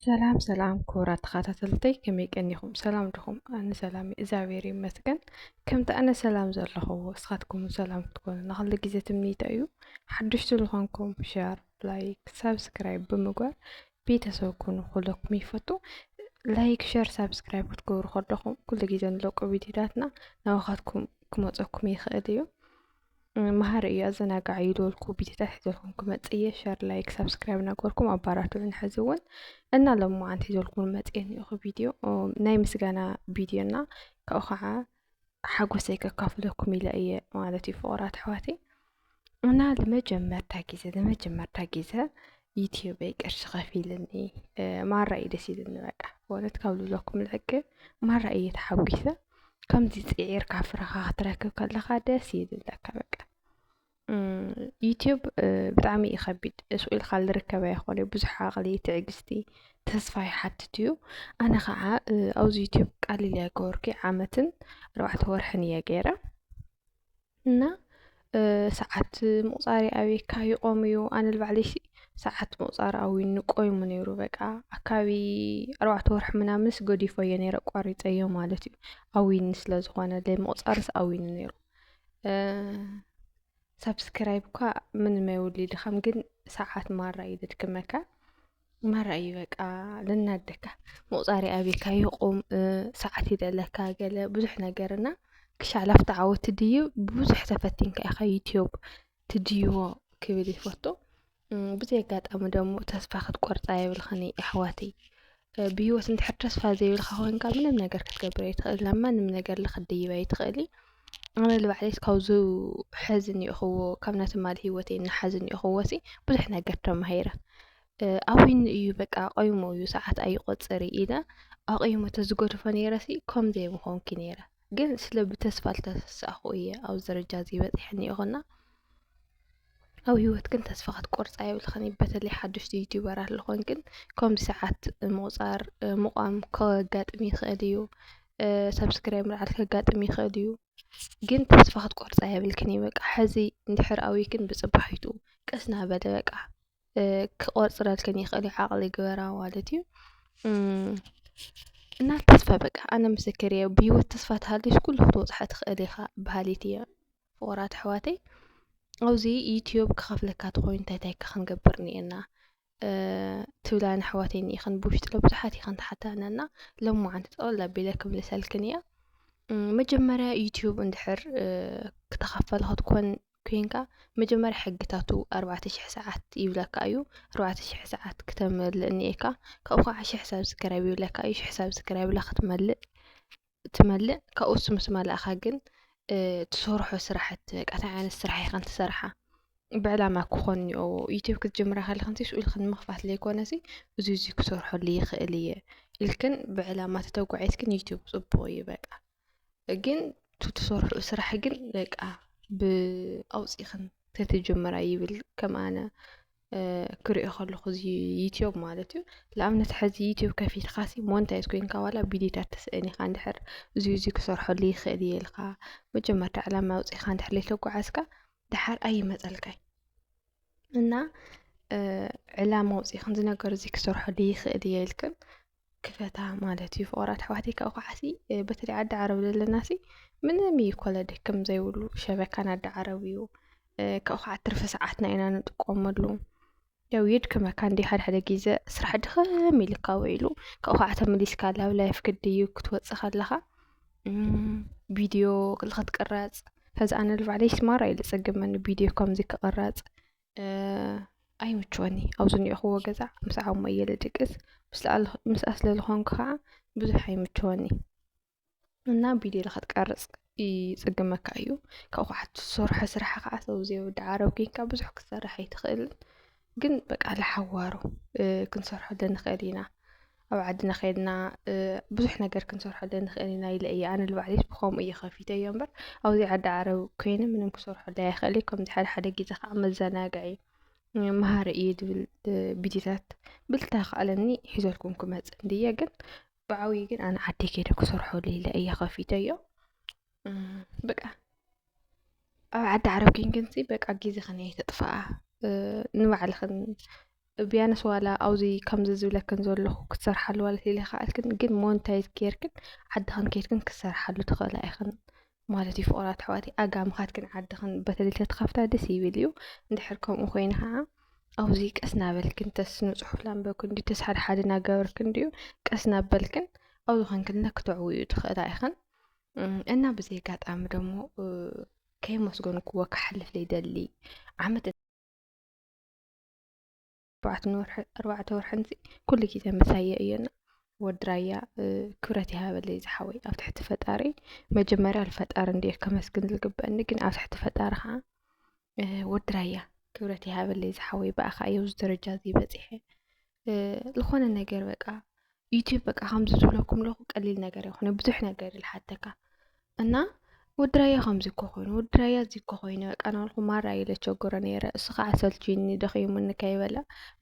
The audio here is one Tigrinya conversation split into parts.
ሰላም ሰላም ክቡራት ተኸታተልተይ ከመይ ቀኒኹም ሰላም ድኹም ኣነ ሰላም እግዚኣብሔር ይመስገን ከምቲ ኣነ ሰላም ዘለኹዎ እስኻትኩም ሰላም ክትኮኑ ንክሉ ግዜ ትምኒተ እዩ ሓድሽቲ ዝኾንኩም ሸር ላይክ ሳብስክራይብ ብምግባር ቤተሰብ ኩኑ ኩለኩም ይፈቱ ላይክ ሸር ሳብስክራይብ ክትገብሩ ከለኹም ኩሉ ግዜ ንለቁ ቪድዮታትና ናባኻትኩም ክመፀኩም ይኽእል እዩ መሃሪ እዩ ኣዘናጋዕ እዩ ዝበልኩ ቪድዮታት ሒዘልኩም ክመፅ እየ ሸር ላይክ ሳብስክራይብ ናገርኩም ኣባራትዑን ሕዚ እውን እና ሎም መዓንቲ ሒዘልኩም መፅኤ ንኢኹ ቪድዮ ናይ ምስጋና ቪድዮና ካብኡ ከዓ ሓጎሰይ ከካፍለኩም ኢለ እየ ማለት እዩ ፍቕራት ኣሕዋተይ እና ንመጀመርታ ግዜ ንመጀመርታ ግዜ ዩትዩበይ ቅርሺ ከፊልኒ ማራ እዩ ደስ ኢልኒ በቃ በእውነት ካብ ልብለኩም ልሕቂ ማራ እየ ተሓጒሰ ከምዚ ፅዒርካ ፍረኻ ክትረክብ ከለኻ ደስ ይብለካ በቃ ዩቱብ ብጣዕሚ እዩ ከቢድ ስቅ ኢልካ ዝርከብ ኣይኮነይ ብዙሕ ዓቅሊ ትዕግስቲ ተስፋ ይሓትት እዩ ኣነ ከዓ ኣብዚ ዩቱብ ቃል ኢለ ኣይገበርኩ ዓመትን ኣርባዕተ ወርሕን እየ ገይረ እና ሰዓት ምቁፃር ኣብየካ ይቆም እዩ ኣነ ንባዕለይ ሰዓት ምቁፃር ኣውዩኒ ቆይሙ ነይሩ በቃ ኣካባቢ ኣርባዕተ ወርሒ ምናምንስ ገዲፎዮ ነይረ ኣቋሪፀዮ ማለት እዩ ኣውዩኒ ስለዝኮነ ምቁፃርስ ኣውዩኒ ነይሩ ሳብስክራይብ እኳ ምንም ኣይወሊድኻም፣ ግን ሰዓት ማራ እዩ ዘድክመካ። ማራ እዩ በቃ ልናደካ ምቁፃሪ ኣብካ ይቁም ሰዓት ይደለካ ገለ ብዙሕ ነገርና ክሻ ላፍታ ዓወት ድዩ ብዙሕ ተፈቲንካ ኢኻ ዩትዩብ ትድይቦ ክብል ይፈቱ። ብዘይ ኣጋጣሚ ደሞ ተስፋ ክትቆርፃ የብልኽን እዩ ኣሕዋተይ። ብሂወት እንድሕር ተስፋ ዘይብልካ ኮንካ ምንም ነገር ክትገብር ኣይትኽእል ናብ ማንም ነገር ክትድይብ ኣይትኽእል ኣነ ንባዕለይስ ካብዚ ሕዚ እኒኦኽዎ ካብ ናይ ትማሊ ሂወተይ ንሓዚ እኒኦኽዎሲ ብዙሕ ነገር ተማሂረ ኣዊኑ እዩ በቃ ቆይሙ እዩ ሰዓት ኣይቆፅር እዩ ኢለ ኣቑሙ ተዝገድፎ ነይረሲ ከምዚ ኣይምኾንኩይ ነይረ። ግን ስለ ብተስፋ ዝተሰሳእኹ እየ ኣብዚ ደረጃ እዚ በፂሐ እኒኦኹና ኣብ ህይወት ግን ተስፋ ክትቆርፃ የብልኽን እዩ በተለይ ሓደሽቲ ዩቲዩበር ኣለኹን ግን ከምዚ ሰዓት ምቑፃር ምቋም ከጋጥም ይኽእል እዩ ሰብስክራይብ ምልዓል ከጋጥም ይኽእል እዩ ግን ተስፋ ክትቆርፃ የብልክን እዩ በቃ ሕዚ እንድሕር ኣውይክን ብፅባሒቱ ቀስ ናበለ በቃ ክቆፅረልክን ይክእል እዩ ዓቅሊ ግበራ ማለት እዩ እና ተስፋ በቃ ኣነ ምስክር እየ ብሂወት ተስፋ ተሃልዩስ ኩሉ ክትበፅሖ ትክእል ኢካ በሃሊት እየ ፍቁራት ኣሕዋተይ ኣብዚ ዩትዩብ ክከፍለካ ተኮይኑ እንታይ እንታይ ክንገብር እኒኤና ትብላን ኣሕዋተይ እኒኢክን ብውሽጢ ብዙሓት ኢክን ትሓተና እና ሎማዓንቲ ጠቅለል ኣቢለ ክምልሰልክን እየ መጀመርያ ዩትዩብ እንድሕር ክተከፈል ክትኮን ኮይንካ መጀመርያ ሕግታቱ ኣርባዕተ ሽሕ ሰዓት ይብለካ እዩ ኣርባዕተ ሽሕ ሰዓት ክተመልእ እኒኤካ ካብኡ ከዓ ሽሕ ሳብስክራይብ ይብለካ እዩ ሽሕ ሳብስክራይብ ኢላ ክትመልእ ትመልእ ካብኡ እሱ ምስ መላእካ ግን ትሰርሖ ስራሕቲ በቃ እንታይ ዓይነት ስራሕ ኢኸን ትሰርሓ ብዕላማ ክኾን እኒኦ ዩቲብ ክትጅምራ ከለኽን ስኡ ኢልክን ንምኽፋት ዘይኮነሲ እዚ እዚ ክሰርሐሉ ይኽእል እየ ኢልክን ብዕላማ ተተጓዒዝክን ዩቲብ ፅቡቕ እዩ በቃ ግን እቲ ትሰርሕኡ ስራሕ ግን በቃ ኣውፂእኽን ተትጅምራ ይብል ከም ኣነ ክሪኦ ከለኹ እዚ ዩትዩብ ማለት እዩ ንኣብነት ሕዚ ዩትዩብ ከፊትካሲ ሞንታይዝ ኮይንካ ዋላ ቪድዮታት ትስእን ኢኻ እንድሕር እዚ እዚ ክሰርሐሉ ይኽእል እየ ኢልካ መጀመርታ ዕላማ ኣውፂእኻ እንድሕር ዘይተጓዓዝካ ድሓር ኣይመፀልካይ እና ዕላማ ኣውፂእኽን እዚ ነገር እዚ ክሰርሐሉ ይኽእል እየ ኢልክን ክፈታ ማለት እዩ ፍቅራት ኣሕዋተይ ካብኡ ከዓሲ በተለይ ዓዲ ዓረብ ዘለናሲ ምንም እዩ ኮለ ደክም ዘይብሉ ሸበካ ናዲ ዓረብ እዩ ካብኡ ከዓ ትርፊ ሰዓትና ኢና ንጥቀመሉ ያው የድክመካ እንዲ ሓደ ሓደ ግዘ ስራሕ ድኸም ኢልካ ውዒሉ ካብኡ ከዓ ተመሊስካ ናብ ላይፍ ክድዩ ክትወፅእ ከለካ ቪድዮ ክትቅረፅ ከዚ ኣነ ንባዕለይ ማራ እዩ ዘፀግመኒ ቪድዮ ከምዚ ክቅረፅ ኣይምችወኒ ኣብ ዝኒኦኹዎ ገዛ ምስ ዓቕሙ እየ ልድቅስ ምስኣ ስለ ዝኾንኩ ከዓ ብዙሕ ኣይምችወኒ እና ቪድዮ ንኸትቀርፅ ይፅግመካ እዩ ካብኡ ከዓ ትሰርሖ ስራሕ ከዓ ሰብ ዘይውዳእ ዓረብ ኮይንካ ብዙሕ ክትሰርሕ ኣይትኽእልን ግን በቃ ለሓዋሩ ክንሰርሐሉ ንኽእል ኢና። ኣብ ዓድና ከድና ብዙሕ ነገር ክንሰርሐለን ንኽእል ኢና ኢለ እየ ኣነ ንባዕለይስ ብኸምኡ እየ ከፊተዮ እምበር ኣብዚ ዓዲ ዓረብ ኮይነ ምንም ክሰርሐለይ ኣይኽእልይ ከምዚ ሓደ ሓደ ግዜ ከዓ መዘናግዒ መሃሪ እዩ ዝብል ቪድዮታት ብልታ ከኣለኒ ሒዘልኩም ክመፅእ እንድየ ግን ብዓብዪ ግን ኣነ ዓደይ ከይደ ክሰርሐሉ ኢለ እየ ከፊተዮ በቃ ኣብ ዓዲ ዓረብ ኴንክንሲ በቃ ግዜኽን ኣየተጥፍኣ ንባዕልኽን ብያንስ ዋላ ኣብዚ ከምዚ ዝብለክን ዘለኹ ክትሰርሓሉ ዋላ ተዘይከኣልክን ግን ሞንታይዝ ጌርክን ዓድኽን ኬድክን ክትሰርሓሉ ትኽእላ ኢኽን ማለት እዩ ፍቑራት ኣሕዋተይ ኣጋ ምኻድክን ዓድኽን በተለይ ተትኸፍታ ደስ ይብል እዩ እንድሕር ከምኡ ኮይኑ ከዓ ኣብዚ ቀስ ናበልክን ተስ ንፅሑፍ ላንበብክን ድዩ ተስ ሓደ ሓደ ናገበርክን ድዩ ቀስ ናበልክን ኣብዚ ኾንክን ክተዕውዩ ትኽእላ ኢኽን እና ብዚ ኣጋጣሚ ደሞ ከየመስገንክዎ ክሓልፍ ዘይደሊ ዓመት ኣርባዕተ ወርሕን ኩሉ ግዜ ምሳየ እዮና ወዲ ራያ ክብረት ይሃበለይ ዝሓወይ ኣብ ትሕቲ ፈጣሪ መጀመርያ ንፈጣሪ እንድየ ከመስግን ዝግበአኒ ግን ኣብ ትሕቲ ፈጣሪ ከዓ ወዲ ራያ ክብረት ይሃበለይ ዝሓወይ ብኣኻ እየ ኣብዚ ደረጃ እዚ በፂሐ ዝኾነ ነገር በቃ ዩቲዩብ በቃ ከምዚ ዝብለኩም ኣለኹ ቀሊል ነገር ኣይኮነ ብዙሕ ነገር እዩ ዝሓተካ እና ወዲ ራያ ከምዚ እኮ ኮይኑ ወዲ ራያ እዚ እኮ ኮይኑ በቃ እናበልኩ ማራ እየ ዘቸግሮ ነይረ እሱ ከዓ ሰልችዩኒ ደኺሙኒ ከይበለ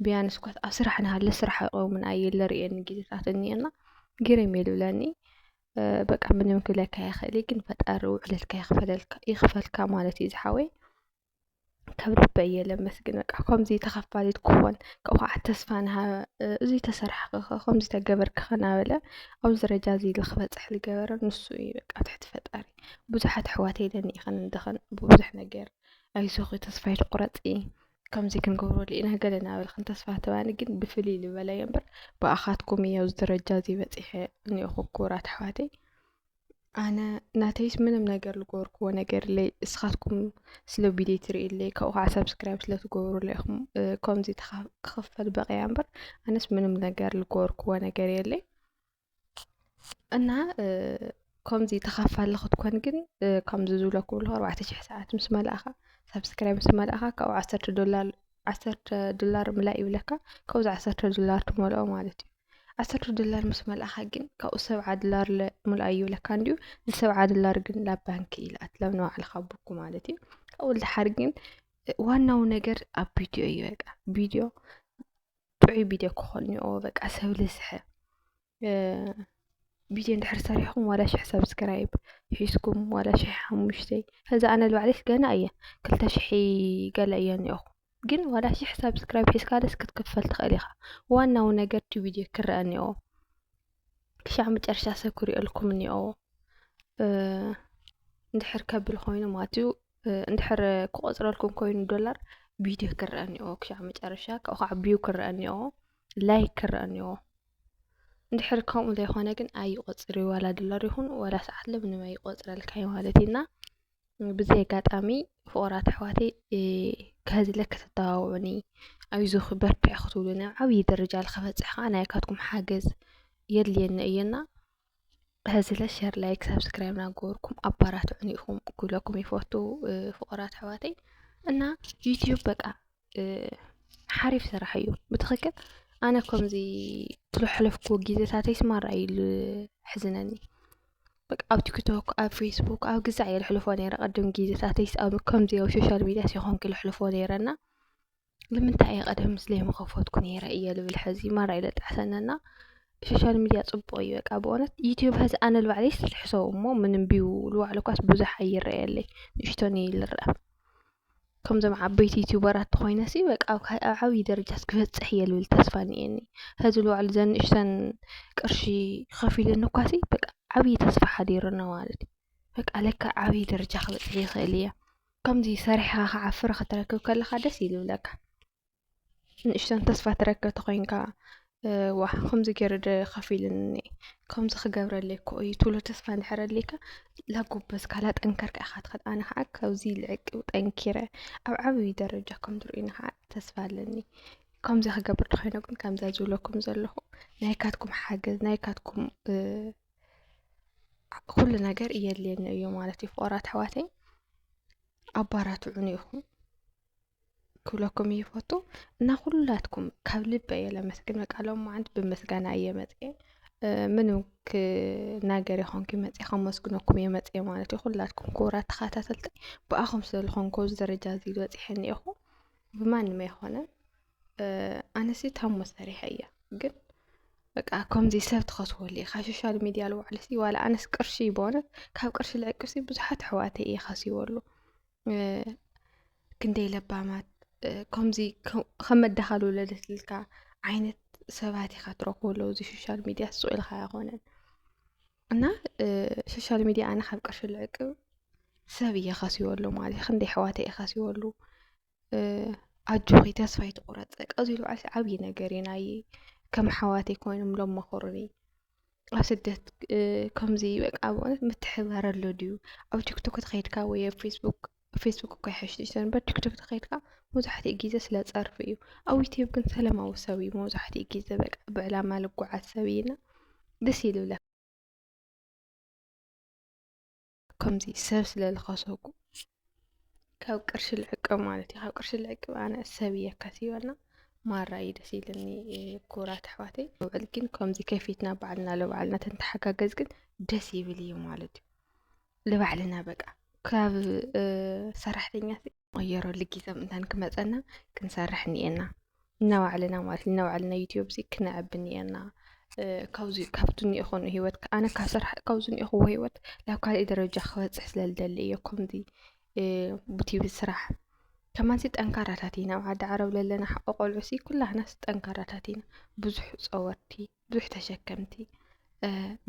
ብያንስ እኳ ኣብ ስራሕ እናሃለ ስራሕ ኣይቆምን ኣየ ዝርእየኒ ግዜታት እኒአና ግርም እዩ ዝብለኒ በቃ ምንም ክብለካ ኣይኽእል ግን ፈጣሪ ውዕለትካ ይኽፈልካ ማለት እዩ ዝሓወይ ካብ ልበይ እየ ለመስግን በቃ ከምዚ ተኸፋሊት ክኾን ካብኡ ከዓ ተስፋ ንሃበ እዚ ተሰራሒ ከ ከምዚ ተገበርኪ ከ ናበለ ኣብዚ ደረጃ እዚ ኢሉ ክበፅሕ ዝገበረ ንሱ እዩ በቃ ኣብ ትሕቲ ፈጣሪ ብዙሓት ኣሕዋት የለኒ ኢኽን እንድኽን ብብዙሕ ነገር ኣይዞኺ ተስፋ ኣይትቑረፂ ከምዚ ክንገብረሉ ኢና ገለ እናበልክን ተስፋ ትባኒ ግን ብፍልይ ዝበለ እየ እምበር ብኣኻትኩም እየ ኣብዚ ደረጃ እዚ በፂሐ እኒኦኹ ክቡራት ኣሕዋተይ ኣነ ናተይስ ምንም ነገር ዝገበርክዎ ነገር የለይ እስኻትኩም ስለ ቪድዮ ትርእይለይ ካብኡ ከዓ ሰብስክራይብ ስለ ትገብሩለይ ኢኹም ከምዚ ክኽፈል በቂዐ እምበር ኣነስ ምንም ነገር ዝገበርክዎ ነገር የለይ እና ከምዚ ተኻፋሊ ክትኮን ግን ከምዚ ዝብለኩም ኣለኹ ኣርባዕተ ሽሕ ሰዓት ምስ መላእኻ ሰብስክራይብ ምስ መላእኻ ካብኡ ዓሰርተ ዶላር ዓሰርተ ዶላር ምላይ ይብለካ ካብዚ ዓሰርተ ዶላር ትመልኦ ማለት እዩ ዓሰርተ ዶላር ምስ መልኣኻ ግን ካብኡ ሰብዓ ዶላር ምልኣዩ ይብለካ እንድዩ እዚ ሰብዓ ዶላር ግን ናብ ባንኪ ይልኣትላ ንባዕልኻ ቡኩ ማለት እዩ ካብኡ ልድሓር ግን ዋናው ነገር ኣብ ቪድዮ እዩ በቃ ቪድዮ ጥዑይ ቪድዮ ክኾን እኒኦ በቃ ሰብ ልስሐ ቪድዮ እንድሕር ሰሪሕኹም ዋላ ሽሕ ሰብስክራይብ ሒዝኩም ዋላ ሽሕ ሓሙሽተ ከዛ ኣነ ልባዕለይስ ገና እየ ክልተ ሽሒ ገለ እየ እኒኦኹ ግን ዋላ ሽሕ ሳብስክራይብ ሒዝካ ደስ ክትክፈል ትኽእል ኢኻ ዋናዊ ነገር እቲ ቪድዮ ክረአ እኒኦ ክሻዕ መጨረሻ ሰብ ክሪኦልኩም እኒኦ እንድሕር ከብል ኮይኑ ማለት እዩ እንድሕር ክቆፅረልኩም ኮይኑ ዶላር ቪድዮ ክረአ እኒኦ ክሻዕ መጨረሻ ካብኡ ከዓ ቪው ክረአ እኒኦ ላይክ ክረአ እኒኦ እንድሕር ከምኡ ዘይኮነ ግን ኣይቆፅር ዋላ ዶላር ይኹን ዋላ ሰዓት ለምንም ኣይቆፅረልካ ማለት እዩና ብዘይ ኣጋጣሚ ፍቑራት ኣሕዋተይ ከህዝለ ከተተባብዑኒ ኣይዞኺ በርትዒ ክትብሉኒ ኣብ ዓብዪ ደረጃ ንኸበፅሕ ከዓ ናይካትኩም ሓገዝ የድልየኒ እዩ እና ብህዝለ ሸር ላይክ ሳብስክራይብ ናገበርኩም ኣባራትዑኒ ኢኹም ክብለኩም ይፈቱ ፍቑራት ኣሕዋተይ እና ዩትዩብ በቃ ሓሪፍ ስራሕ እዩ ብትክክል ኣነ ከምዚ ዝሐለፍክዎ ግዜታተይ ማራ እዩ ዘሕዝነኒ በቃ ኣብ ቲክቶክ ኣብ ፌስቡክ ኣብ ገዛዕ እየ ዘሕልፎ ነይረ ቅድም ግዜታተይ ከምዚ ኣብ ሶሻል ሚድያ ኣይኮንኩ ዘሕልፎ ነይረ እና ንምንታይ እየ ቀደም ዘይምከፈትኩ ነይረ እየ ዝብል ሐዚ ማራ እዩ ዘጣዕሰኒ እና ሶሻል ሚድያ ፅቡቅ እዩ በቃ ብእውነት ዩቱብ ሐዚ ኣነ ንባዕለይ እስኪ ሕሰቡ እሞ ምንም ቢው ዝባዕሉ እኳስ ብዙሕ ኣይረኣየለይ ንእሽተን እዩ ዝረኣ። ከምዞም ዓበይቲ ዩቱበራት ተኾይነሲ በቃ ኣብ ካእ ኣብ ዓብዪ ደረጃስ ክበፅሕ እየ ልብል ተስፋ እኒኤኒ ሀዚ ልውዕል ዘን ንእሽተን ቅርሺ ኸፊለኒ እኳሲ በቃ ዓብዪ ተስፋ ሓዲሩኒ ማለት እዩ በቃ ለካ ዓብዪ ደረጃ ክበፅሕ ይኽእል እየ ከምዚ ሰሪሕኻ ክዓፍር ኽትረክብ ከለኻ ደስ እዩ ልብለካ። ንእሽተን ተስፋ ትረክብ ተኾይንካ ዋ ከምዚ ገይሩ ዶ ከፊሉኒ ከምዚ ክገብረለይ እኮ እዩ ትብሎ ተስፋ እንድሕር ኣልካ ላጎበዝካ ላጠንከርካ ኢኻ ትኸድ ኣነ ከዓ ካብዚ ልዕቅብ ጠንኪረ ኣብ ዓብዪ ደረጃ ከም ትርእዩኒ ከዓ ተስፋ ኣለኒ ከምዚ ክገብር ዶ ኮይነ ግን ከምዛ ዝብለኩም ዘለኹ ናይካትኩም ሓገዝ ናይካትኩም ኩሉ ነገር እየድልየኒ እዩ ማለት እዩ ፍቑራት ኣሕዋተይ ኣባራትዑኒ ኢኹም ክብለኩም ይፈቱ እና ኩላትኩም ካብ ልበ እየ ለመስግን። በቃ ሎማዓንቲ ብምስጋና እየ መፅኤ ምንም ክናገር ይኾንኩ መፅኤ ከመስግነኩም እየ መፅኤ ማለት እዩ። ኩላትኩም ክቡራት ተኸታተልቲ ብኣኹም ስለዝኾንኩ ኣብዚ ደረጃ እዚ ዝበፅሐ እኒአኹ ብማንም ኣይኮነን። ኣነሲ ታሞ ሰሪሐ እያ ግን በቃ ከምዚ ሰብ ትኸስወሉ እዩ ካብ ሶሻል ሚድያ ልዋዕልሲ ዋላ ኣነስ ቅርሺ በሆነት ካብ ቅርሺ ልዕቅሲ ብዙሓት ኣሕዋተይ እየ ከሲወሉ ክንደይ ለባማት ከምዚ ከም መዳኸሊ ውለደት ኢልካ ዓይነት ሰባት ኢኻ ትረኽበሉ ኣብዚ ሶሻል ሚድያ ስቕ ኢልካ ኣይኮነን እና ሶሻል ሚድያ ኣነ ካብ ቅርሺ ልዕቅብ ሰብ እየ ከሲበሉ ማለት እዩ ክንደይ ኣሕዋተይ እየ ከሲበሉ ኣጆኺ ተስፋ ኣይትቑረፂ በቃ እዚ በዓልሲ ዓብዪ ነገር እዩ ናየይ ከም ኣሕዋተይ ኮይኖም ዶ መኸሩኒ። ኣብ ስደት ከምዚ በቃ ኣብ እውነት ምትሕብባር ኣሎ ድዩ? ኣብ ቲክቶክ ተኸይድካ ወይ ኣብ ፌስቡክ ፌስቡክ እኳ ይሓይሽ ትሕዝቶ እምበር ቲክቶክ ተኸይድካ መብዛሕትኡ ግዜ ስለ ፀርፊ እዩ። ኣብ ዩቱብ ግን ሰለማዊ ሰብ እዩ መብዛሕትኡ ግዜ በቃ ብዕላማ ልጓዓዝ ሰብ እዩና ደስ ይልብለካ። ከምዚ ሰብ ስለ ልኸሰኩ ካብ ቅርሺ ልዕቅብ ማለት እዩ። ካብ ቅርሺ ልዕቅብ ኣነ ሰብ እየ ከሲበና ማራ እዩ ደስ ኢልኒ ኩራት ኣሕዋተይ። ውዕል ግን ከምዚ ከፊትና ባዕልና ለባዕልና ተንተሓጋገዝ ግን ደስ ይብል እዩ ማለት እዩ። ልባዕልና በቃ ካብ ሰራሕተኛ ቐየረሉ ግዜ ምእንታን ክመጸና ክንሰርሕ እኒኤና ነባዕልና ማለት ነባዕልና ዩትዩብ እዚ ክነዕቢ እኒኤና ካብዚ ካብቲ እኒኦ ኮኑ ህይወት ኣነ ካብ ስራሕ ካብዚ እኒኦኹዎ ህይወት ናብ ካልእ ደረጃ ክበጽሕ ስለ ዝደሊ እየ ከምዚ ብትይብ ስራሕ ከማንሲ ጠንካራታት ኢና ኣብ ዓዲ ዓረብ ዘለና ሓቆ ቆልዑሲ ኩላህናስ ጠንካራታት ኢና ብዙሕ ጸወርቲ ብዙሕ ተሸከምቲ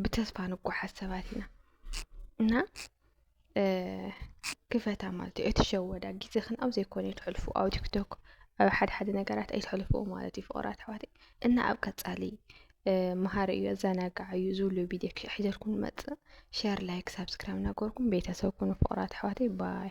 ብተስፋ ንጓሓዝ ሰባት ኢና እና ክፈታ ማለት እዩ ኣይትሸወዳ ግዜኽን ኣብ ዘይኮነ ኣይተሕልፉ ኣብ ቲክቶክ ኣብ ሓደ ሓደ ነገራት ኣይተሕልፉ ማለት እዩ ፍቕራት ኣሕዋተይ እና ኣብ ቀፃሊ መሃሪ እዩ ኣዘናጋዕ እዩ ዝብሉ ቪድዮ ሒዘልኩም ንመፅእ ሸር ላይክ ሳብስክራይብ እናገበርኩም ቤተሰብ ኩኑ ፍቕራት ኣሕዋተይ ባይ